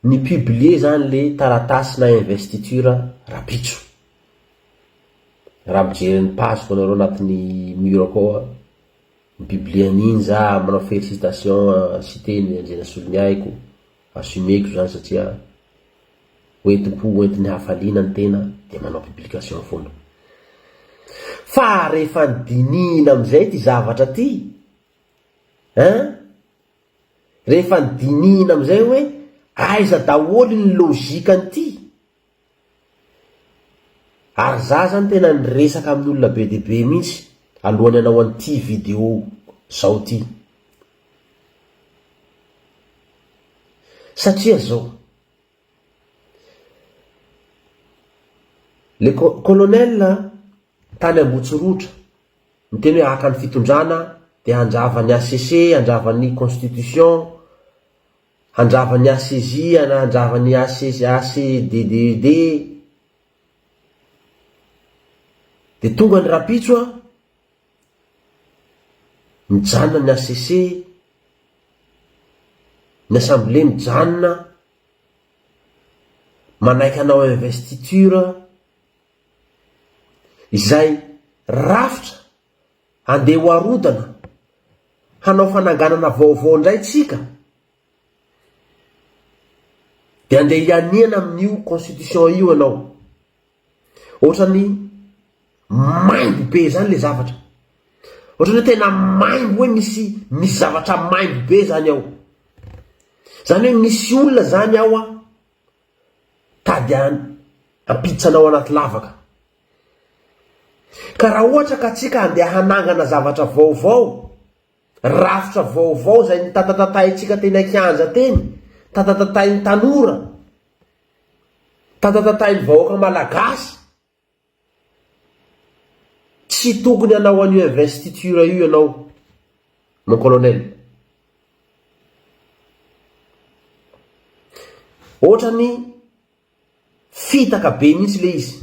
Ni publier zany le taratasy na investiture rapitso. Raha mijery ny page ko nareo anatiny mur akao a, ni publier an'iny za manao felicitation a Siteny Andrianasolony ahy ko assumer ko zany satria hoentim-po hoentin'ny hafaliana ny tena de manao publication foana. Fa rehefa dinihina amizay ty zavatra ty ein! Rehefa dinihina amin'izay hoe aiza daholo iny logique an'ity? Ary za zany tena niresaka amin'ny olona be dia be mihitsy alohan'ny hanao an'ity video zao ity. Satria zao. Le colonel tany Ambotsirotra miteny hoe haka ny fitondrana dia handrava ny HCC, handrava ny constitution, handrava ny HCJ, handrava ny HCDDED, dia tonga ny rapitso an! Mijanona ny HCC, ny assemblée mijanona, manaiky hanao investiture, izay rafitra andeha ho arodana hanao fananganana vaovao indray tsika, dia andeha hianiana amin'io constitution io ianao. Ohatrany maimbo be zany le zavatra. Ohatrany hoe tena maimbo hoe misy misy zavatra maimbo be zany ao. Zany hoe misy olona zany ao an tady an hampiditra anao anaty lavaka. Ka raha ohatra ka tsika andeha hanangana zavatra vaovao, rafitra vaovao zay notatatatahintsika teny an-kianja teny, tatatatahin'ny tanora, Tatatatain'ny vahoaka malagasy. Tsy tokony hanao an'io investiture io ianao mon colonel. Ohatrany fitaka be mihitsy le izy.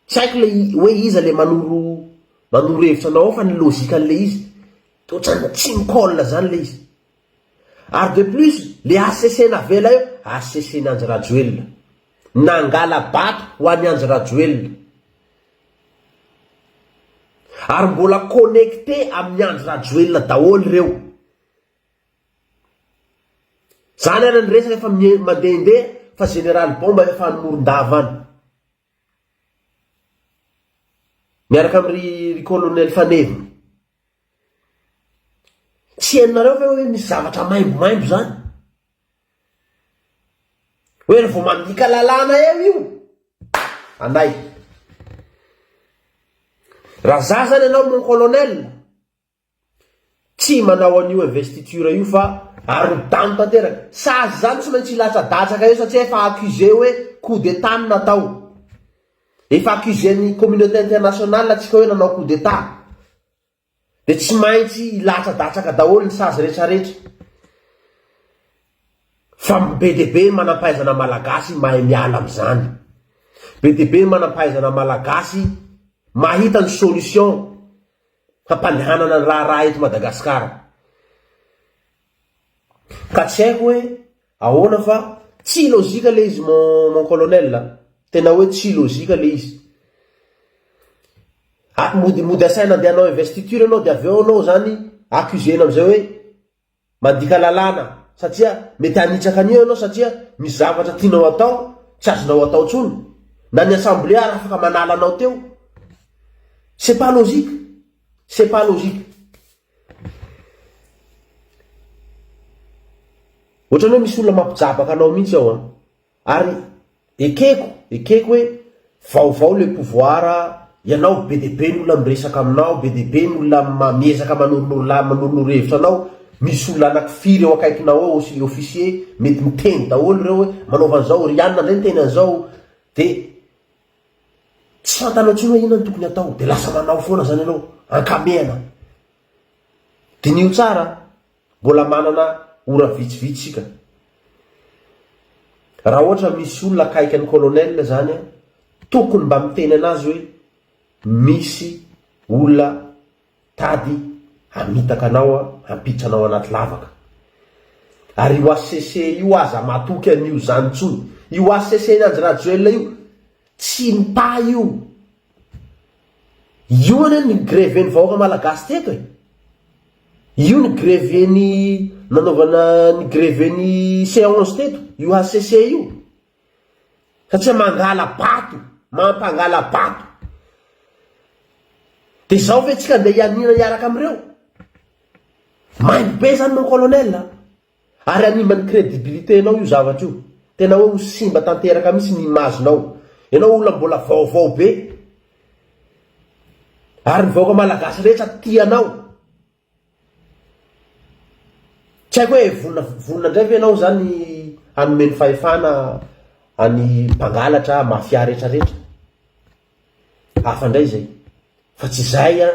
Tsy haiko le hoe iza le manoro manoro hevitra anao ao fa ny logique an'le izy ohatrany tsy mi-colle zany le izy. Ary de plus le HCC navela eo, HCC ny Andry Rajoelina. Nangala bato ho an'i Andry Rajoelina. Ary mbola connecté amin'i Andry Rajoelina daholo ireo. Zany ary ny resaka efa mandehandeha fa général Bomba efa any Morondava any. Miaraka am ry ry colonel faneviny. Tsy henonareo ve hoe misy zavatra maimbo maimbo zany. Hoe ry vao mandika lalàna eo io. Anay. Raha za zany ianao mon colonel. Tsy manao an'io investiture io fa arodano tanteraka. Sazy izany tsy maintsy hilatsadatsaka eo satria efa accusé hoe coup d'état no natao. Efa accusé ny communauté internationale antsika hoe nanao coup d'état. Dia tsy maintsy hilatsadatsaka daholo ny sazy retraretra. Fa be dia be ny manampahaizana malagasy mahay miala amin'izany. Be dia be ny manampahaizana malagasy mahita ny solution hampandehanana ny raharaha eto Madagasikara. Ka tsy haiko hoe ahoana fa tsy ilozika le izy mon mon colonel a! Tena hoe tsy ilozika le izy. A mody mody asaina andeha hanao investiture ianao dia avy eo anao zany accusena amizay hoe Mandika lalàna satria mety hanitsaka an'io ianao satria misy zavatra tianao atao tsy azonao atao intsony, na ny assemblée ary afaka manala anao teo. C'est pas logique! C'est pas logique! Ohatrany hoe misy olona mampijabaka anao mihitsy ao an! Ary ekeko, ekeko hoe vaovao le pouvoir, ianao be dia be ny olona miresaka aminao, be dia be ny olona miezaka manoro manoronoro hevitra anao, misy olona anaky firy eo akaikinao eo sy officier mety miteny daholo ireo hoe manaova an'izao, ry anona indray miteny an'izao dia tsy fantanao intsony hoe inona no tokony hatao dia lasa manao foana izany ianao, ankamehana. Diniho tsara an! Mbola manana ora vitsivitsy isika. Raha ohatra misy olona akaiky an'i Colonel zany an, tokony mba miteny anazy hoe misy olona tady hamitaka anao an, hampiditra anao anaty lavaka. Ary io HCC io aza matoky an'io zany intsony. Io HCC-n'Andry Rajoelina io, Tsy mpa io. Io anie ny greven'ny vahoaka malagasy teto e! Io ny greven'ny nanaovana ny greven'ny seance teto, io HCC io. Satria mangala bato, mampangala bato. Dia izao ve tsika andeha hianiana hiaraka amin'ireo? Maimbo be izany mon colonel a! Ary hanimba ny crédibilité nao io zavatra io. Tena hoe ho simba tanteraka mihitsy ny image nao. Ianao olona mbola vaovao be. Ary ny vahoaka malagasy rehetra tia anao. Tsy haiko hoe vonona vonona indray ve ianao izany hanome ny fahefana any mpangalatra, mafia retraretra. Hafa indray izay. Fa tsy izay an.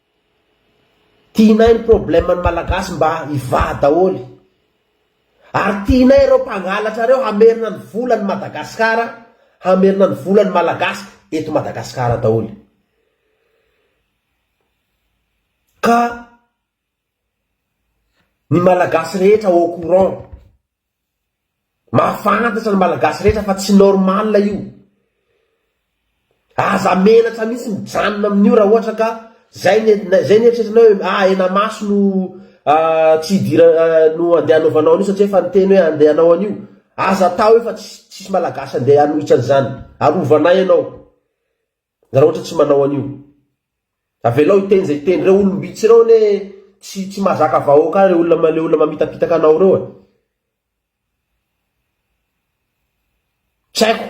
Tianay ny problème ny malagasy mba hivaha daholo Ary tianay ireo mpangalatra ireo hamerina ny vola ny Madagascar hamerina ny vola ny malagasy eto Madagascar daholo Ka ny malagasy rehetra au courant. Mahafantatra ny malagasy rehetra fa tsy normal io. Aza menatra mihitsy mijanona amin'io raha ohatra ka zay ny zay ny eritreritrinao hoe ah henamaso no tsy hidirana no andeha hanaovanao an'io satria efa niteny hoe andeha hanao an'io. Aza atao io fa tsisy malagasy andeha hanohitra an'izany. Arovana ahy ianao. Raha ohatra tsy manao an'io. Avelao hiteny izay hiteny. Ireo olom-bitsy ireo anie tsy tsy mahazaka vahoaka ireo olona ilay olona mamitapitaka anao ireo e. Tsy haiko.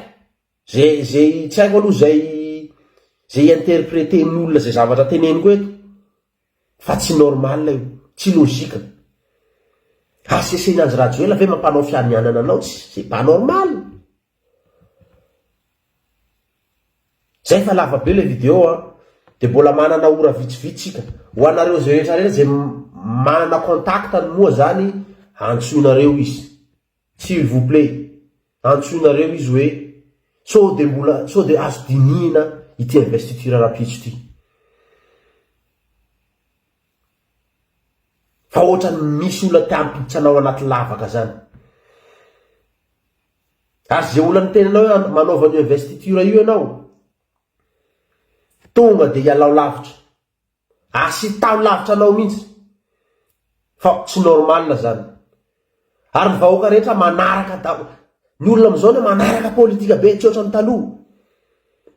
Izay izay tsy haiko aloha izay izay i-interpreter-ny olona izay zavatra teneniko eto. Fa tsy normal io, tsy logique. HCC ny Andry Rajoela ve mampanao fianianana anao tsy, c'est pas normal. Zay fa lava be le video an! De mbola manana ora vitsivitsy tsika. Ho anareo zay rehetra rehetra zay manana contact ny moa zany antsoinareo izy. S'il vous plait, antsoinareo izy hoe sao dia mbola sao dia azo dinihina ity investiture rahampitso ity. Fa ohatran'ny misy olona te hampiditra anao anaty lavaka zany. Ary ze olona niteny anao hoe manaova an'io investiture io ianao, tonga dia ialao lavitra. Asitaho lavitra anao mihintsy fa tsy normal zany ary ny vahoaka rehetra manaraka daholo ny olona amizao anie manaraka politika be tsy ohatran'ny taloha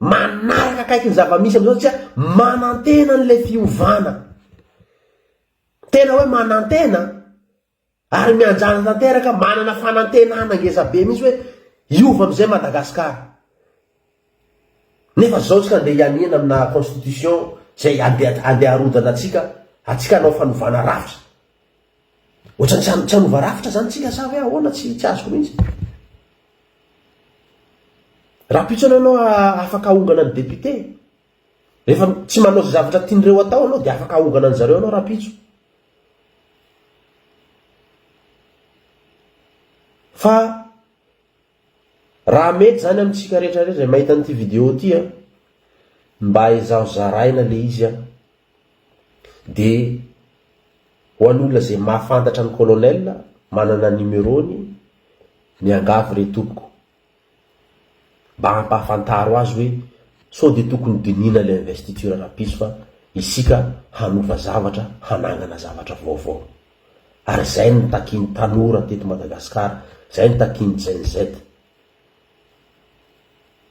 manaraka akaiky ny zavamisy amizao satria manantena an'ilay fiovana tena hoe manantena Ary mianjady tanteraka, manana fanantenana ngezabe mihitsy hoe hiova amin'izay Madagascar. Nefa izao tsika andeha hianiana amina constitution izay andeha andeha harodana antsika, antsika hanao fanovana rafitra. Ohatrany tsy tsy hanova rafitra izany tsika sa ve ahoana tsy tsy azoko mihitsy. Rahampitso ianao ianao afaka ahongana ny député? Rehefa tsy manao izay zavatra tian'ireo atao anao dia afaka ahongana an-dry zareo anao rahampitso. Fa raha mety izany amintsika rehetra rehetra izay mahita an'ity vidéo ity an, mba ezaho zaraina ilay izy an, dia ho an'olona izay mahafantatra an'i Colonel, manana ny numero-ny, miangavy re tompoko. Mba ampahafantaro azy hoe sao dia tokony dinihina ilay investiture rapiso fa isika hanova zavatra hanangana zavatra vaovao. Ary izay no nitakian'ny tanora teto Madagasikara, izay no takian'ny Gen-Z.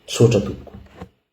Misaotra tompoko.